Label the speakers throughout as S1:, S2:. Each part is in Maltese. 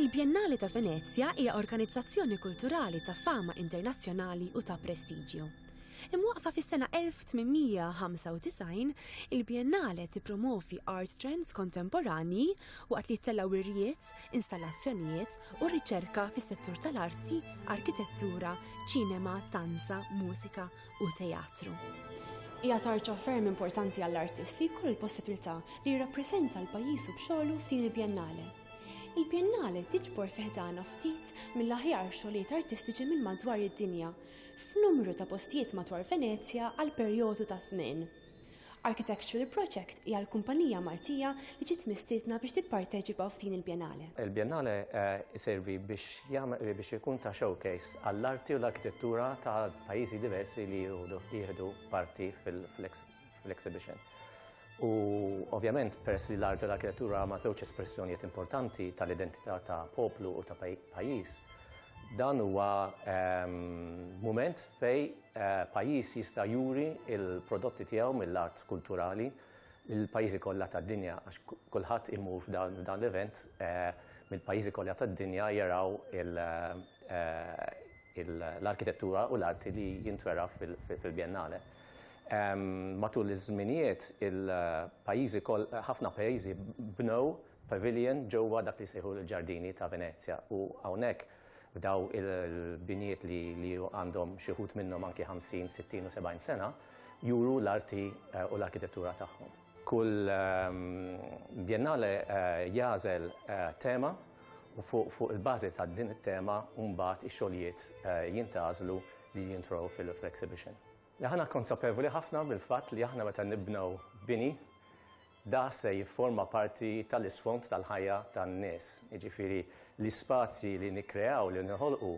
S1: Il-Biennale ta' Venezja hija organizzazzjoni kulturali ta' fama internazzjonali u ta' prestiġju. Imwaqfa fis-sena 1895, il-Biennale tippromovi art trends kontemporanji waqt li jittellgħu irjiet, artijiet, installazzjonijiet u riċerka fis-settur tal-arti, arkitettura, ċinema, tanza, mużika u teatru. Hija tarċa ferm importanti għall-artist li jkollu l-possibilità li jirrappreżenta l-pajjiżu b'xogħlu f'din il-bjennale. Il-bjennale tiġbor fiħdana ftit mill-aħjar xogħlijiet artistiċi minn madwar id-dinja, f'numru ta' postijiet madwar Venezja għal perjodu ta' żmien. Architectural Project hija l-kumpanija Maltija li ġiet mistiedna biex tipparteċipa f'din il-Biennale. Il-Biennale
S2: jservi biex ikun ta' showcase għall-arti u l-arkitettura ta' pajjiżi diversi li jieħdu parti fl-exhibition. U ovvjament peress li l-arti u l-arkitettura huma żewġ espressjonijiet importanti tal-identità ta' poplu u ta' pajjiż, dan huwa mument fejn Pajjiż jista' juri l-prodotti tiegħu mill-art kulturali lil pajjiżi kollha tad-dinja għax kulħadd imur f'dan f'dan l-event mill-pajjiżi kollha tad-dinja jaraw il l-arkitettura u l-arti li jintwera fil-Biennale. Matul iż-żminijiet il-pajjiżi koll ħafna pajjiżi bnew pavilion ġewwa dak li jsejħu l-ġardini ta' Venezja u hawnhekk B'daw il-binijiet li għandhom xi wħud minnhom anki 50, 60 u 70 sena, juru l-arti u l-arkitettura tagħhom. Kull Biennale jagħżel tema u fuq il-bażi ta' din it-tema mbagħad ix-xogħlijiet jintgħażlu li jintrow fl-exhibition. Aħna konsapevoli ħafna mill-fatt li aħna meta nibnew bini, Da se jifforma parti tal-isfond tal-ħajja tan-nies. Jiġifieri l-ispazji li nikkreaw, li noħolqu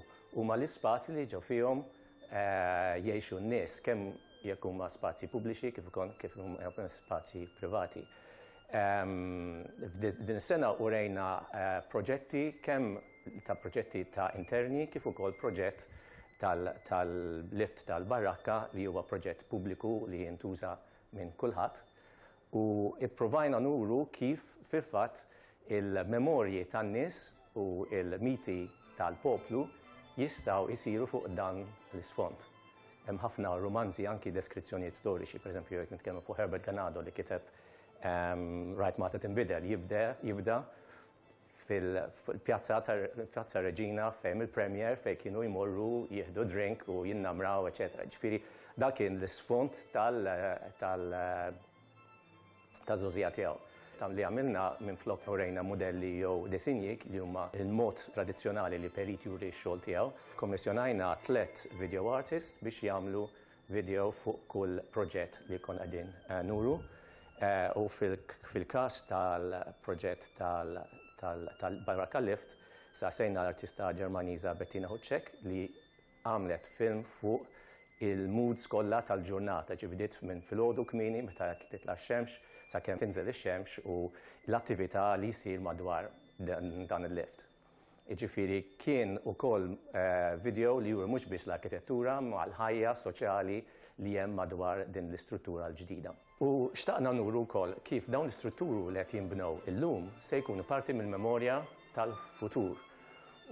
S2: huma l-ispazji li ġo fihom jgħixu n-nies, kemm jekk huma spazji pubbliċi kif ukoll kif huma spazji privati. F'din is-sena urejna proġetti kemm ta' proġetti ta' interni kif ukoll proġett tal-lift tal-barakka li huwa proġett pubbliku li jintuża minn kulħadd u pprovajna nuru kif fil-fatt il-memorji tan-nies u l-miti tal-poplu jistgħu jsiru fuq dan l-isfond. Hemm ħafna rumanzi anki deskrizzjonijiet storiċi, pereżempju jekk nitkellmu fuq Herbert Ganado li kiteb ehm, Rajt Mata Tinbidel jibda fil-pjazza tal-Pjazza Reġina fejn il-Premier fejn kienu jmorru jieħdu drink u jinnamraw, eċetera. Ġifieri dak kien l-isfond tal tal taż-żożija tiegħu. Tam li għamilna minn flok urejna modelli jew disinji li huma il-mod tradizzjonali li Perit juri x-xogħol tiegħu, kommissjonajna tliet video artists biex jagħmlu video fuq kull proġett li jkun qegħdin nuru u fil-każ tal-proġett tal-Baraka Lift saqsejna l-artista Ġermaniża Bettina Hucek li għamlet film fuq il-moods kollha tal-ġurnata, ġifieri bdiet minn filgħodu kmieni meta titla' x-xemx sakemm tinżel ix-xemx u l-attività li ssir madwar dan il-lift. Jiġifieri kien ukoll video li juri mhux biss l-arkitettura ma l-ħajja soċjali li hemm madwar din l-istruttura l-ġdida. U xtaqna nuru wkoll kif dawn l-istrutturu li qed jinbnew illum se jkunu parti mill-memorja tal-futur.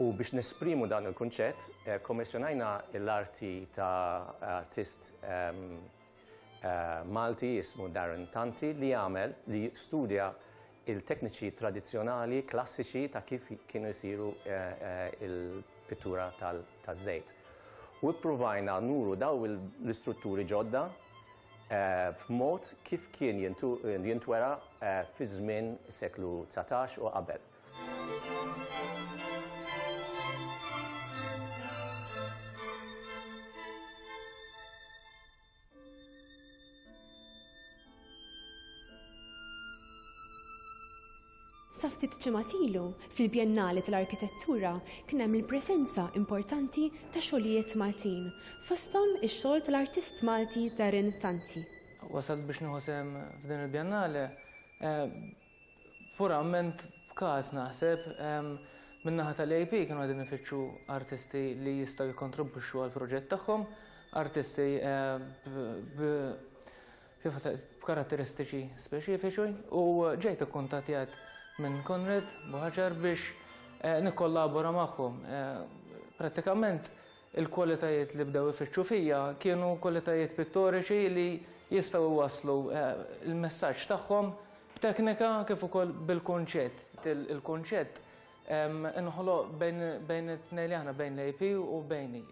S2: U biex nesprimu dan il-kunċett, kkommissjonajna l-arti ta' artist Malti jismu Darren Tanti li għamel li studja il-tekniċi tradizzjonali klassiċi ta' kif kienu jsiru l-pittura taż-żejt. U ippruvajna nuru dawn l-istrutturi ġodda f'mod kif kien jintwera fi żmien is-seklu dsatax u qabel.
S1: Sa ftit ċematilu, fil-Bjennali tal-Arkitettura kien hemm il-presenza importanti ta' xogħlijiet Maltin, fosthom ix-xogħol tal-artist Malti Darren Tanti. Wasalt biex nieħu
S3: sehem f'din il-Bjennale eh, Purament b'każ naħseb, min-naħa tal-EIP kienu qegħdin ifittxu artisti li jistgħu jikkontribwixxu għall-proġett tagħhom, artisti b'karatteristiċi speċifiċi u ġejt ikkuntattjat minn Konrad Buhaġar biex nikkollabora magħhom. Prattikament Il-kwalitajiet li bdew ifittxu fija kienu kwalitajiet pittoriċi li jistgħu jwasslu l-messaġġ tagħhom b'teknika kif ukoll bil-kunċett. Il-kunċett inħoloq bejn it-tnejn li aħna, bejn l-AP u bejni.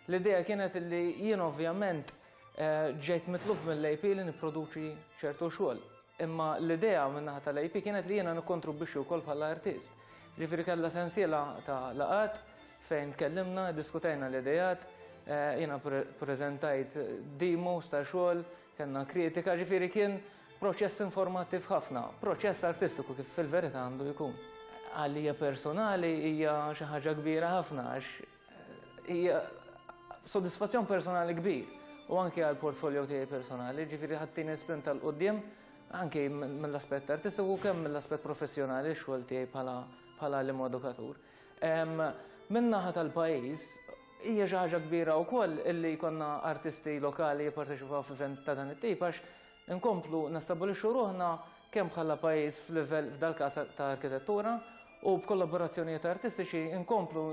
S3: L-idea kienet li jien ovvjament ġejt mitlub mill-AP li nipproduċi ċertu xogħol. Imma l-idea min-naħa tal-AP kienet li jiena nikkontribwixxi wkoll bħala artist. Ġifieri kellha sensiela ta' laqgħat fejn tkellimna, diskutejna l-idejat, eh, jiena preżentajt demos ta' xogħol, kellna kritika, ġifieri kien proċess informattiv ħafna, proċess artistiku kif fil-verità għandu jkun. Għalija personali hija xi ħaġa kbira ħafna għax Hija soddisfazzjon personali kbir u anke għal portfolio tiegħi personali, ġifieri ħaddin sprint tal qudiem anke mill-aspett artistiku u kemm mill-aspett professjonali x-xogħol tiegħi bħala l edukatur. Min-naħa tal-pajjiż hija xi ħaġa kbira wkoll illi jkollna artisti lokali jipparteċipaw f'events ta' dan it-tip għax Inkomplu nestabbilixxu ruħna kemm bħala pajjiż f'livell f'dal-każ ta' arkitettura u b'kollaborazzjonijiet artistiċi inkomplu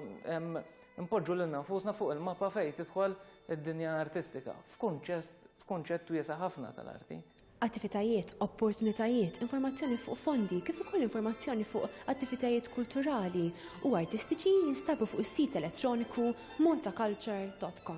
S3: npoġġu lilna nfusna fuq il-mappa fejn tidħol id-dinja artistika f'kunċett wiesa' ħafna tal-arti. attivitajiet,
S1: opportunitajiet, informazzjoni fuq fondi kif ukoll informazzjoni fuq attivitajiet kulturali u artistiċi jinstabu fuq is-sit elettroniku maltaculture.com.